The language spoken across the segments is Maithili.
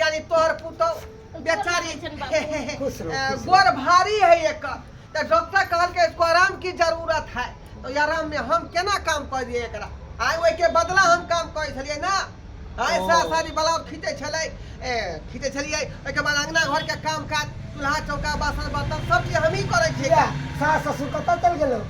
यानी तोहर पुतौ बेचारी खुश रहो, अ, गोर भारी है एकर तऽ डॉक्टर कहलकै इसको आराम की जरूरत है तो ई आराम में हम केना काम कर दिए एकरा आइ ओहिके बदला हम काम करै छलियै ना आइ ओ। सास सारी ब्लाउज खींचै छलै ए, खींचै छलियै ओहिके बाद अंगना घर के काम काज चूल्हा चौका बासन बर्तन सब चीज हमही करै छियै या, सास ससुर कतऽ चलि गेलौ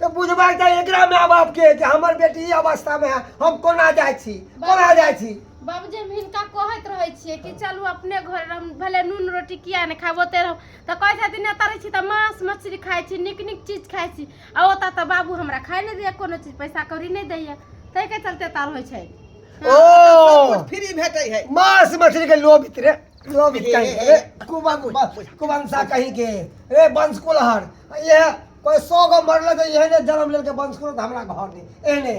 तऽ बुझबाक चाही एकरा माय बाप के जे हमर बेटी ई अवस्था में है हम कोना जाइ छी कोना जाइ छी बाबूजी हम हिनका कहैत रहै छियै कि चलू अपने घर हम भले नून रोटी किया नहि खाएब ओतै रहब तऽ कहै छथिन एतऽ रहै छी तऽ मांस मछली खाइ छी नीक नीक चीज खाइ छी आ ओतऽ तऽ बाबू हमरा खाए नहि दैया कोनो चीज पैसा कौड़ी नहि दैया ताहिके चलते एतऽ रहै छै ओ फ्री भेटै है मांस मछली के लोभित रे लोभित कहीं के रे कुबंसा कहीं के रे बंस कुलहर ये कोई सौ गो मरल तो यही ने जन्म लेके बंस करो तो हमरा घर दे एने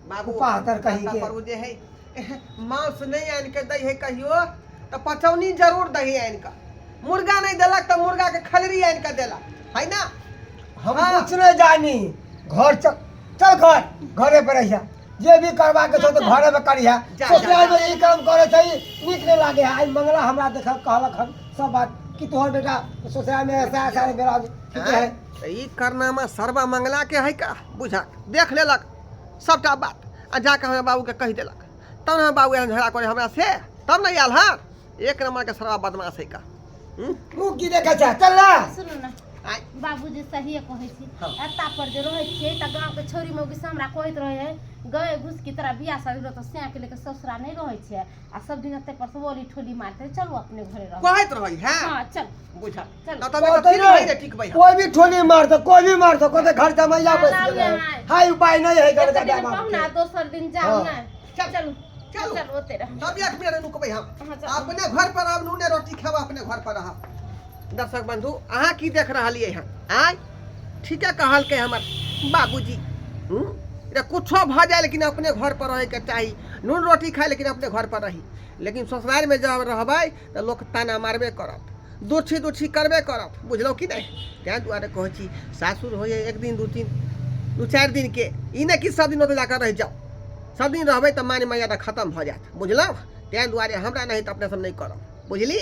बाबू पाहतर कहीं के करू जे है मांस नहीं आन के दही है कहियो तो पचौनी जरूर दही आन का मुर्गा नहीं देलक तो मुर्गा के खलरी आन के देला है ना हम हाँ। कुछ नहीं जानी घर चल चल घर घरे पर रहिया जे भी करबाक छौ तऽ घरेमे करिहे ससुरालमे ई काम करै छै नीक नहि लागै है आइ मंगला हमरा देख कहलक हन सब बात कि तोहर बेटा ससुरालमे ऐसा ऐसा बेरा ठीके है ई करनामा सर्वा मंगला के है का बुझा देख लेलक सबटा बात आ जाके हमरा बाबूके कहि देलक तब ने बाबू एहन झगड़ा करे हमरा से तब ने आयल हँ एक नंबर के सरवा बदमाश है का हम्म? तू की देखै छै चल ना सुनू ने आइ। बाबूजी सहिए कहै छी हँ। एता पर जे रहै छियै तऽ गाँव के छोरी मौगी से हमरा कहैत रहै है गए घुस की तरह बियाह शादी रहत सैं के लेके ससुरा नहि रहै छै आ सब दिन एते पर से ओली ठोली मारते चलू अपने घरे रहू कहैत रहै हैं हँ चल बुझा चल। ना तब कहतै फिर नहीं। नहीं ठीक भाई कोई भी ठोली मार दो कोई भी मार दो कोते घर जमैया बैठ आराम गेलै में आइ। हाय उपाय नहीं है घर एते का दिन कहू ना दोसर दिन जाउ हाँ। ने चल चलू चल चल ओते रह तब एक मिनट रुकबै हम अहाँ चल। अपने घर पर आब नूने रोटी खाब अपने घर पर रहब दर्शक बंधु अहाँ की देख रहलियै हँ आय ठीके कहलकै हमर बाबूजी हूँ रे कुछो भऽ जाए लेकिन अपने घर पर रहैके चाही नून रोटी खाए लेकिन अपने घर पर रही लेकिन ससुरारिमे जब रहबै तऽ लोक ताना मारबे करत दोछी दोछी करबे करत बुझलहुँ कि नहि ताहि दुआरे कहै छी सासुर होइए एक दिन दू दिन दू चारि दिनके ई नहि कि सभ दिन ओतऽ जाकऽ रहि जाउ सभ दिन रहबै तऽ मान मर्यादा खतम भऽ जायत बुझलहुँ ताहि दुआरे हमरा नाहित अपने सभ नहि करब बुझली